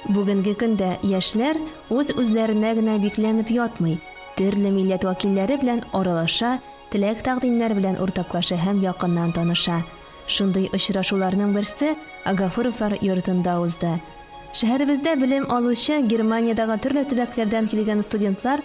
Бүгенге көндә яшьләр үз-үзләренә генә бикләнеп ятмый, төрле милләт вәкилләре белән аралаша, теләк-тәкъдимнәр белән уртаклаша һәм якыннан таныша. Шундый очрашуларның берсе Агафуровлар йортында узды. Шәһәребездә белем алучы Германиядәге төрле төбәкләрдән килгән студентлар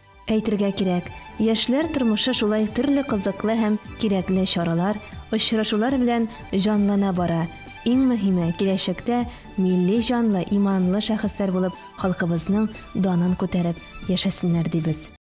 Әйтергә кирәк, яшьләр тормышы шулай төрле кызыклы һәм кирәкле чаралар, очрашулар белән җанлана бара. Иң мөһиме, киләчәктә милли җанлы, иманлы шәхесләр булып халкыбызның данын күтәреп яшәсеннәр дибез.